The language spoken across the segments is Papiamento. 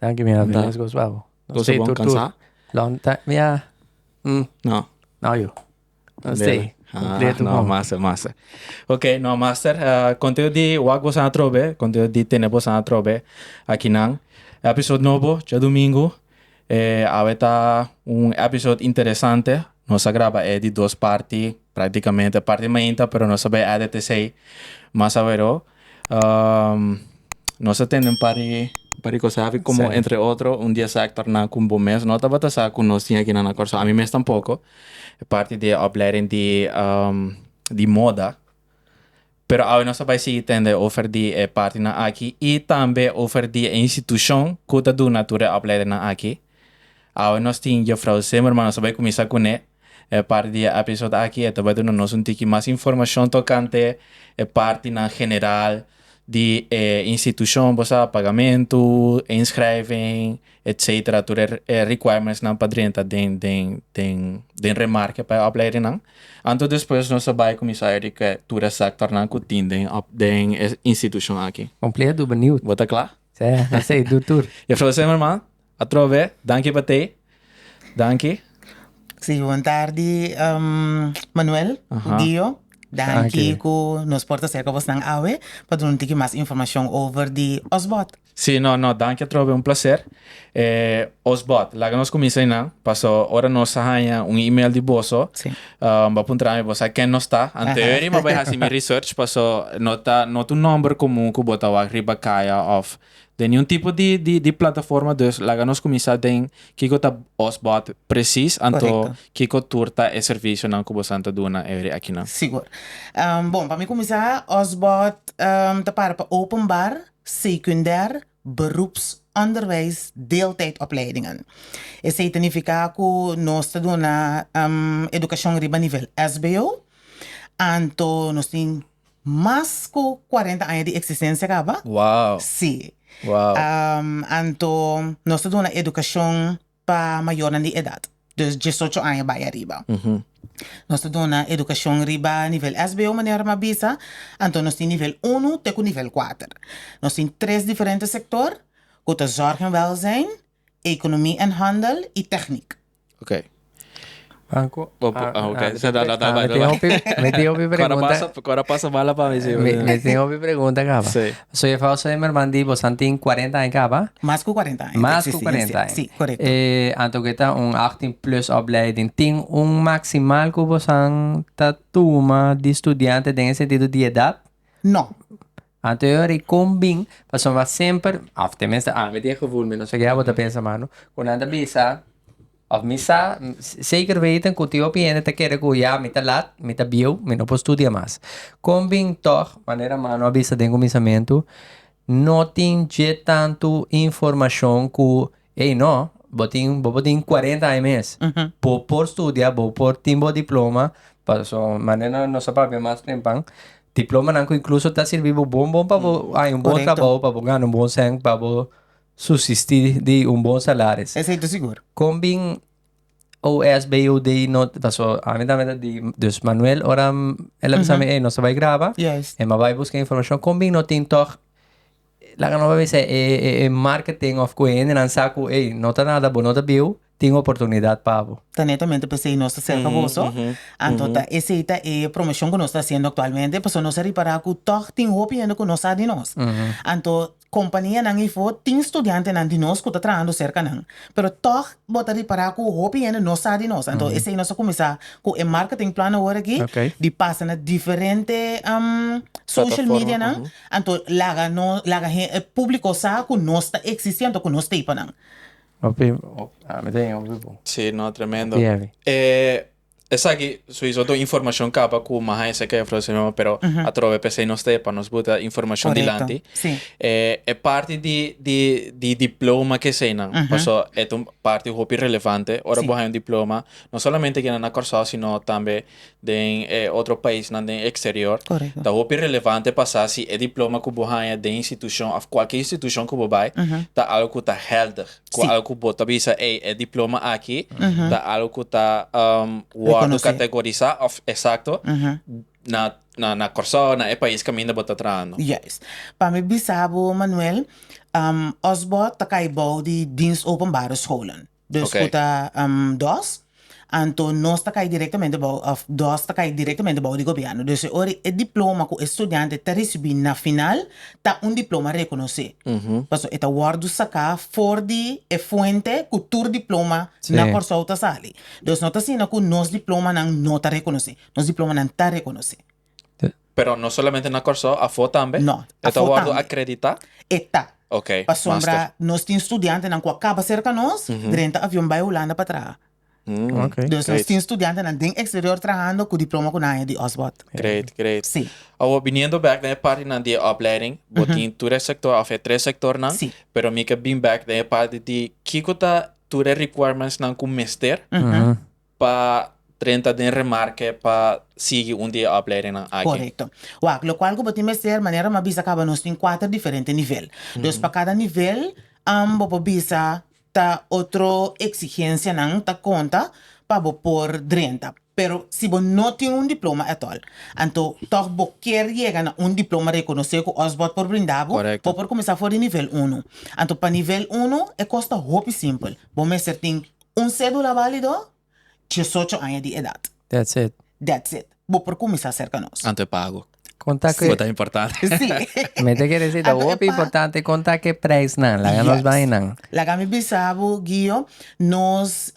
Danki mi a Anta. Venezia gospel bo. Nos Gospel stay bon tur tur. cansá? Long time mi a mm No. no you. Nos Bela. stay Ah, completo no, bon. massa, massa. Ok, no, master, ah, contento di wak bosa atrobe, contento di tene bosa atrobe akinan. Episode nobo, djadomingo. Eh, awe ta un episode interesante. Nos a graba e di dos parti, practicamente. Parti mainta, pero nos a bai edit esey mas awero. Um, nos a tende un par di, un par di cosa aki, como Sa. entre otro, un di esaki torná cu bo mes no tabata sa cu nos tin aki na nan Curaçao. Ami mes tampoco, e parti di e opleiding di, um, di moda. Pero awe nos a bai sigui tende over di e partinan aki y tambe over di e institucion cu ta duna tur e opleidennan aki. Awe nos tin Jofrou Zimmerman, nos ta bai kuminsá kuné e parti di e episod aki. E ta bai duna nos un tiki mas informashon tokante e partinan general di e institushon, bo sa, pagamentu, inskrijving, etsetera, tur e rikuaimentsnan pa drenta den den den den remarke pa e opleidingnan. Anto despues nos ta bai kuminsá e tur e sektornan ku tin den den e institushon aki. Kompleet, bo beniut? Bo ta kla? Sa e hasey do tur. E fla sey mama atrò bè danki pa tey danki. Si bon tardi Manuel Dio danki ku nos por ta serka bosnan awe pa duna un tiki mas informashon over di osbòt. Si no no danki atrò bè un plaser. E os bòt, laga nos kuminsá einan, paso ora nos a haña un email di boso, Sí. ah, bo a puntra ami, bo sa ken nos ta? Anteori mi a bai hasi mi research, paso no ta no ta un nòmber komun ku bo ta wak riba kaya òf den niun tipo di di di plataforma, dus laga nos kuminsá den kiko ta os bòt presis, anto Korekto. kiko tur ta e servisionan ku bosan ta duna eri akinan. Sigur. Bon, pa mi kuminsá, os bòt ta para pa openbar, sekundèr, Beroepsonderwijs deeltijdopleidingen. Esei ta nifiká ku nos ta duna edukashon riba nivel sbo, anto nos tin mas ku kuarenta aña di eksistensia kaba. Si, anto nos ta duna edukashon pa mayornan di edad, dus diesocho aña bai ariba. Nos ta duna educacion riba nivel sbo manera mi a bisa, anto nos tin nivel unu te cu nivel kuater. Nos tin tres diferente sector cu ta zorg en welzijn, economie en handel y techniek. Ok. Banco okay sa da da da bai bai me tin hopi pregunta cora pasa mala pa mi si me tin hopi pregunta caba so e fausa e merman di bosan tin cuarenta aña caba mas cu cuarenta aña mas cu cuarenta aña si correcto e anto ke ta un achttien plus opleiding tin un maximal cu bosan ta tuma di studiante den e sentido di edad no. Anterior e con bin pasobra a semper of temenster ami tin e gevoel mi no sa kiaboa ta pensa mano cu nan ta bisa of mi sa zeker weten cu tin hopi hende ta kere cu ya mi ta laat mi ta bieuw mi no por studia mas con bin tog manera mano a bisa den cuminsamentu no tin dje tanto informacion cu. Ey no, bo tin bo por tin cuarenta aña mes, bo por studia, bo por tin bo diploma, pasobra manera nos ta papia mas tempan, diplomanan cu incluso ta sirbi bo bon bon pa bo haña un bon trabaho, pa bo gana un bon cent, pa bo subsisti di un bon salaris. Esey ta sigur. Con bin OSBOD no, pasobra ami tambe ta di, dus Manuel ora el a bisa mi ey nos ta bay graba, e m'abai busca informacion, con bin no tin toch. Laga no bay bisa e marketing of cu e hendenan sa cu ey, no ta nada bo no ta biu, tin oportunidad pa bo. Ta netamente pesey nos ta cerca boso, anto ta esey ta e promoción cu nos ta haciendo actualmente, pasobra nos a ripara cu tog tin hopi hende cu no sa di nos. Anto companianan eyfo tin studiantenan di nos cu ta trahando cerca nan, pero tog bo ta ripara cu hopi hende no sa di nos, anto esey nos a cuminsa cu e marketing plan awor aki di pasana diferente social medianan. Anto laga no laga hen e publico sa cu nos ta existi anto cu nos ta hipo nan. Hopi hopi mi ta hiña hopi bon. Sí no tremendo. Hopi heavy. E esaki suizo do informacion caba cu Maha e Seca Efro Señor Jehová pero atrobe pesey nos ta e pa nos buta informacion dilanti. Correcto. Sí. E e parti di di di diploma ke eseynan paso e ta un parti hopi relevante ora Sí. bo haña un diploma no solamente keda na Kòrsou sino tambe den e otro paisnan den eksterior. Korekto. Ta hopi relevante pa sa si e diploma ku bo haña den institushon òf kualke institushon ku bo bai ta algu ku ta hèlder, ku algu ku bo ta bisa, ey, e diploma aki ta algu ku ta wòrdu kategorisá òf eksakto na na na Kòrsou, na e pais kaminda bo ta trahando. Juist. Pa mi bisa bo, Manuel, òf bò ta kai bou di Dienst Openbare Scholen, Den su ku ta dos, anto nos ta kai direktamente bou, òf dos ta kai direktamente bou di gobièrnu. Dus e ora e diploma ku e studiante ta risibí na final ta un diploma rekonosé. Pasobra e ta wòrdu saká for di e fuente ku tur diploma na Kòrsou ta sali. Dus no ta asina ku nos diplomanan no ta rekonosé. Nos diplomanan ta rekonosé. Pero no solamente na Kòrsou, afó tambe? No, E ta afó wòrdu tambe. akreditá? E ta. Ok, Pasobra master. nos tin studiantenan ku a kaba serka nos, drenta avion bai Hulanda pa traha. Mm, Ok. Dus nos great, tin studiantenan den eksterior trahando ku diploma ku nan haya di Osbord. great, great. Sí, Awor, biniendo bèk den e partinan di e opleiding, bo tin tur e sektor òf e tres sektornan, sí. pero mi ke bin bèk den e parti di kiko ta tur e requirements nan ku mester, Ujú. pa drenta den remarke pa sigui un di e opleidingnan aki. Korekto. Wak, lokual ku bo tin mester, manera m'a bisa kaba nos tin kuater diferente nivel. Dus pa kada nivel bo por bisa ta otro eksigensianan ta konta pa bo por drenta. Pero si bo no tin un diploma etol, anto tòg bo kier yega na un diploma rekonosé ku Osborn por brinda bo, bo por kuminsá for di nivel unu. Anto pa nivel unu e kos ta hopi simpel, bo mester tin Un cedula valido, diesocho aña di edad. That's it. That's it. Bo por cuminsa cerca nos. Anto e pago. Conta cu e. Cu ta importante. Si. Mi ta kere si ta hopi importante conta cu e prijs nan. Laga nos bay nan. Yes. Laga mi bisa bo Gio, nos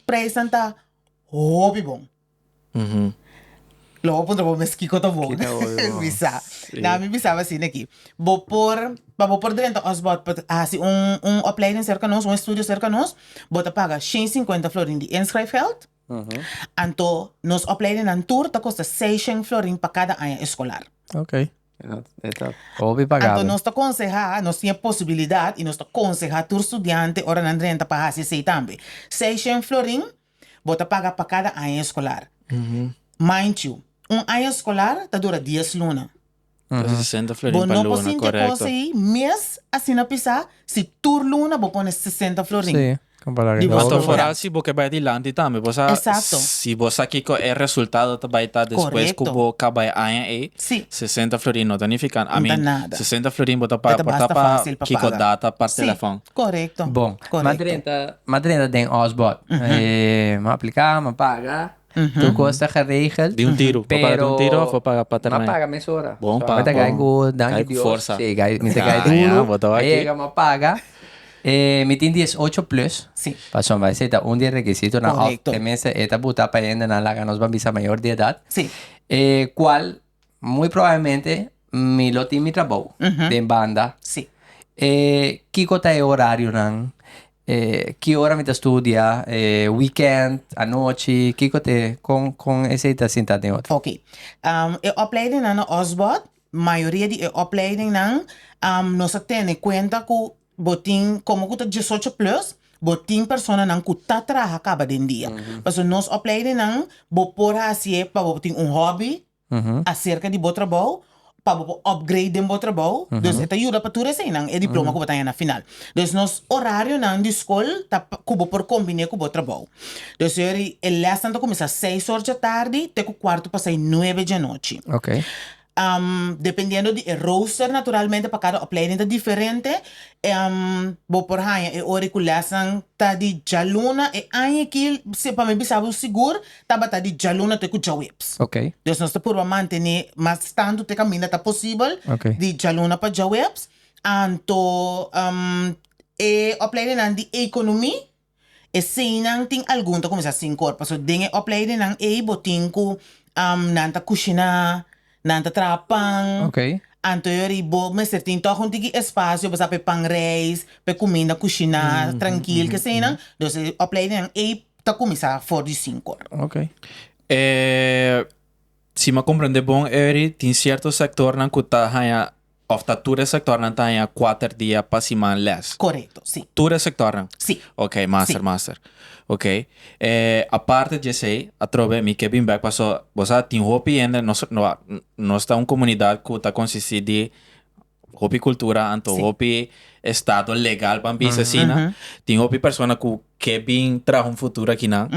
prijs nan ta hopi bon. Lo bo puntra bo mes kiko ta wou bisa. Na mi bisaba asina aki, bo por, pa bo por drenta òf bo por hasi un un opleiding serka nos, un estudio serka nos, bo ta paga shen i sinkuenta florin di inschrijfgeld. Anto nos opleidingnan tur ta kosta seis shen florin pa kada aña eskolar. Anto nos ta konsehá, nos tin e posibilidat i nos ta konsehá tur studiante ora nan drenta pa hasi esei tambe. Seis shen florin Bo ta paga pa kada aña eskolar. Mind you, un aña eskolar ta dura dies luna. Bo no por sinti e kos ei mes asina pisá si tur luna bo pone sesenta florin di bo eskolar. Foral si bo ke bai dilanti tambe. Bo sa si bo sa kiko e resultado ta bai ta despues ku bo kaba e aña ei, sesenta florin no ta nifiká, I mean, sesenta florin bo ta paga por ta pa kiko data pa telefòn. Correcto. Bon. Correcto. M'a drenta, m'a drenta den Osbod. m'a aplica, m'a paga. Tur cos ta geregel. Di un tiro. Pero. M'a paga di un tiro of a paga pa termijn? M'a paga mesora. Bon pa. M'a ta gai cu danki Dios. Gai cu forsa. Si, gai, mi ta gai duro. Ah, ya. Bo ta wak aki. M'a yega, m'a paga. mi tin diesocho plus. Si. Pasobra esei ta un di e requisitonan. Correcto. Of tenminste e ta buta pa hendenan laga nos ban bisa mayor di edat. Si. E cual. Muy probablemente mi lo tin mi trabou den banda. Sí. E kiko ta e orarionan? E ki ora mi ta studia? E weekend, anochi? Kiko ta e, kon kon esei ta sinta den otro? Oké. E opleidingnan na Osborn, mayoria di e opleidingnan nos a tene kuenta ku Bo tin como cu ta diesocho plus, bo tin personanan cu ta traha caba den dia. Pasobra nos opleidennan bo por hacié pa bo tin un hobby acerca di bo trabou, pa bo por upgrade den bo trabou. Dus e ta yuda pa tur eseinan, e diploma cu bo ta haña na final. Dus nos horarionan di scol ta cu bo por combiné cu bo trabou. Dus eri e lesnan ta cuminsa seis or dje tardi te cu cuarto pa sai nuebe dje nochi. Dependiendo di e rooster naturalmente pa cada opleiding ta diferente. Bo por haña e ora cu lesnan ta di djaluna. E aña aki pa mi bisa bo sigur tabata di djaluna te cu djaweps. Dus nos ta purba mantene mas tantu te caminda ta posibel di djaluna pa djaweps. Anto e opleidingnan di economie Eseinan tin algun ta kuminsá sin kor. Pasobra den e opleidennan ei bo tin ku nan ta kushiná, nan ta traha pan. Anto ei bo mester tin tòg un tiki espacio pa sa pa e pan reis, pa e kuminda kushiná trankil keseinan. Dus e opleidennan ei ta kuminsá for di sin kor. Si mi a komprende bon Eury tin sierto sektornan ku ta haña Of ta tur e sectornan ta haña cuater dia pa siman les? Corecto, si. Tur e sectornan? Si. Ok, master, master. Ok, eh, aparte djesey, atrobe mi ke bin bek paso, bo sa, tin hopi hende, nos, nos ta un comunidad cu ta consisti di hopi cultura anto hopi estado legal, pa bisa asina. Tin hopi persona cu ke bin traha un futuro akinan,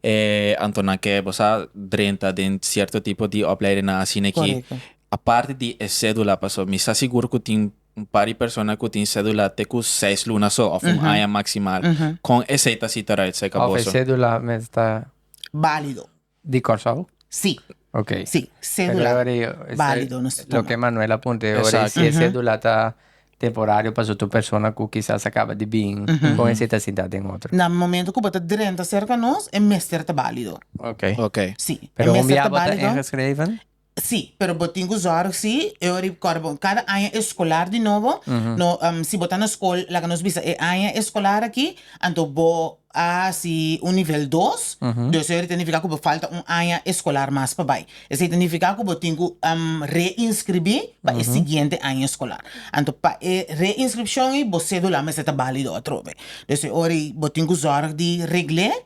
eh, anto nan ke, bo sa, drenta den cierto tipo di opleidingnan asina aki. Aparte di e cedula, paso mi sa sigur cu tin un par di persona cu tin cedula te cu seis luna so of un aña maximal, con esey ta cita right side ca boso? Of e cedula mes ta. Balido. Di Corsou? Si. Ok. Si, cedula balido nos ta tuma. Loke Manuela puntra e ora y si e cedula ta temporario paso tur persona cu kisas a caba di bin, con esey ta sinta den otro? Na momento cu bo ta drenta cerca nos, e mester ta balido. Ok. Ok. Si, e mester ta balido. Pero un biaha bo ta ingeschreven? Sí, pero bo tin ku zòrg si e ora i kòrda bo kada aña eskolar di nobo no si bo ta na skol laga nos bisa e aña eskolar aki anto bo a hasi un nivel dos dus e ora ta nifiká ku bo falta un aña eskolar mas pa bai esei ta nifiká ku bo tin ku reinskribí pa e siguiente aña eskolar anto pa e reinskripshon ei bo sedula mester ta bálido atrobe dus e ora ei bo tin ku zòrg di regl'é.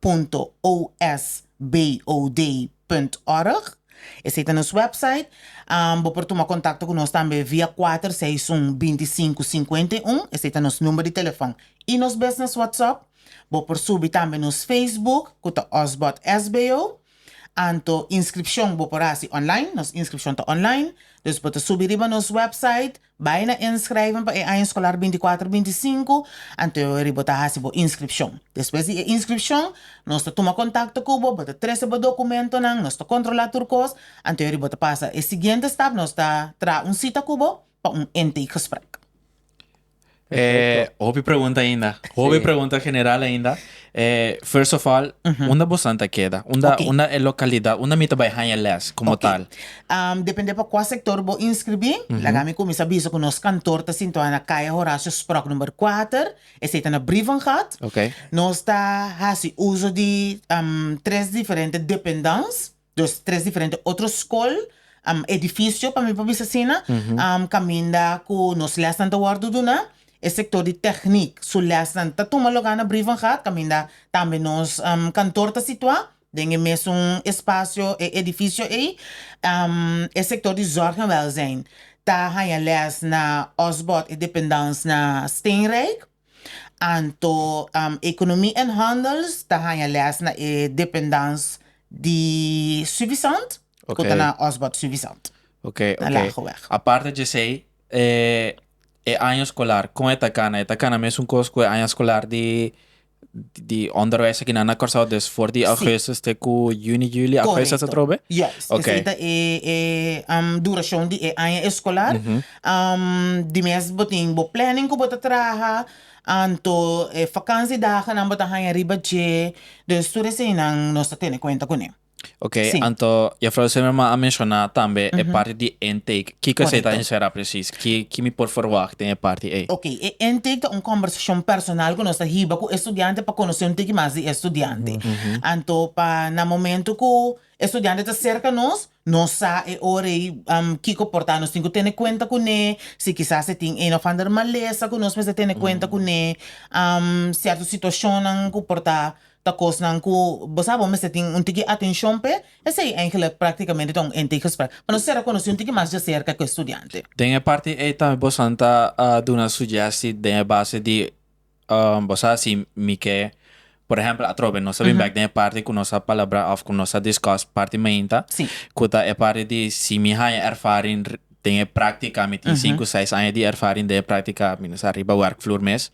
punto os BOD punt org, esei ta nos website. Bo por tuma kontakto ku nos tambe via kuater seis un binti sinku sinkuenta i un, esei ta nos number di telefon, i nos business WhatsApp. Bo por subi tambe nos Facebook ku ta osbod sbo, anto inskripshon bo por hasi online, nos inskripshon ta online, dus bo ta subi riba nos website. Bai na inschrijven pa e aña escolar binticuatro binticinco, anto ori bo ta haci bo inscripcion. Despues di e inscripcion, nos ta tuma contacto cu bo, bo ta trece bo documentonan, nos ta controla tur cos, anto ori bo ta pasa e siguiente stap, nos ta traha un cita cu bo pa un intake gesprek. Eh, hopi pregunta ainda. Hopi sí. pregunta general ainda. Eh, first of all, uh -huh. unda bosan ta keda? Unda, okay. unda e localidad, unda mi ta bai hanja les como okay. tal? Um, depende pa qua sector bo inscribí, uh -huh. laga mi comienza biso con nos kantoor ta sintua na calle Horacio Sprok number 4, ese ta na Brievengat. Okay. Nos ta hasi uso di um, tres diferente dependance. Dos tres diferente otro skol, edifisio pa mi por bisa asina, kaminda ku nos lèsnan ta wòrdu duna. E sektor di tèknik su lèsnan ta tuma lugá na Brievengaard kaminda tambe nos kantor ta situá den e mesun espasio, e edifisio ei. E sektor di zòrg en wèlzijn ta haña lès na Osbord, e dependans na Steenrijk. Anto Economie en Handels ta haña les na e dependans di Suvisant ku ta na Osbert Suvisant na Lageweg. Aparte djesei, e aña skolar kon e ta kana? E ta kana mesun kos ku e aña skolar di di onderwijs aki nan na Kòrsou, dus for di Augustus te ku Juni, Juli, Augustus atrobe? Juist, esei ta e durashon di e aña eskolar. di mes bo tin bo planning ku bo ta traha anto e fakansi daganan bo ta haña riba dje dus tur eseinan nos ta tene kuenta kuné. Oke anto Jefrouw Zimmerman a menshoná tambe e parti di intake kiko esei ta enserá presis ki mi por ferwagt den e parti ei? Oke e intake ta un kombersashon personal ku nos ta hiba ku e studiante pa konosé un tiki mas di e studiante anto pa na momentu ku E studiante ta serka nos, nos sa e ora ei kiko por ta. Nos tin ku tene kuenta ku ne, si kisas e tin ein of ander malesa ku nos mester tene kuenta ku ne, sierto situashonnan ku por ta ta kosnan ku bo sa bo mester tin un tiki atenshon p'e. Esei eigenlijk praktikamente ta un ente i gesprek. Pa nos sera konosí un tiki mas dja serka ku e studiante. Den e parti ei tambe bo san ta duna sugjesti den e base di. bo sa si mi ke, por ehempel atrobe nos ta bin bek den e parti ku nos a palabra òf ku nos a discus parti mainta, ku ta e parti di si mi haña ervaring den e práktika, mi tin sinku seis aña di ervaring den e práktika binisha riba wèrkvloer mes,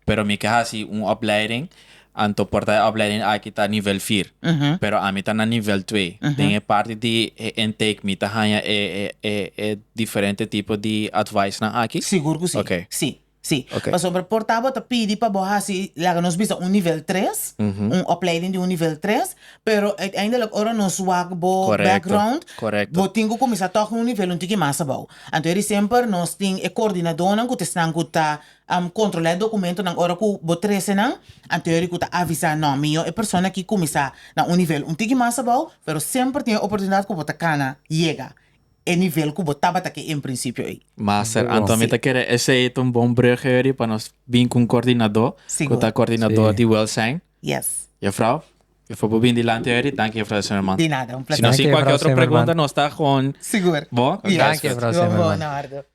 pero mi ke hasi un opleiding, anto por ta e opleiding aki ta nivel vier, pero ami ta na nivel twee, den e parti di e intake mi ta haña e diferente tipo di advicenan aki? Sigur ku si, si. Sí, pasobra por ta bo ta pidi pa bo hasi, laga nos bisa un nivel tres, un opleiding di un nivel tres, pero uiteindelijk ora nos wak bo background, bo tin ku kuminsá tòg na un nivel un tiki mas abou. Anto eri semper nos tin e kordinadónan ku ta esnan ku ta kontrolá e dokumentonan ora ku bo trese nan, anto eri ku ta avisá, nò, mihó e persona aki kuminsá na un nivel un tiki mas abou, pero semper tin e oportunidat ku bo ta kana yega. e nivel ku bo tabata ke en prinsipio ei. Master Anton mi ta kere esei ta un bon brugge weri pa nos bin ku un kordinadó ku ta kordinadó di welsijn. Juffrouw e for bo bin dilanti weri danki Juffrouw Zimmerman. Si nos tin kualke otro pregunta nos ta hoon bo. Danki Juffrouw Zimmerman.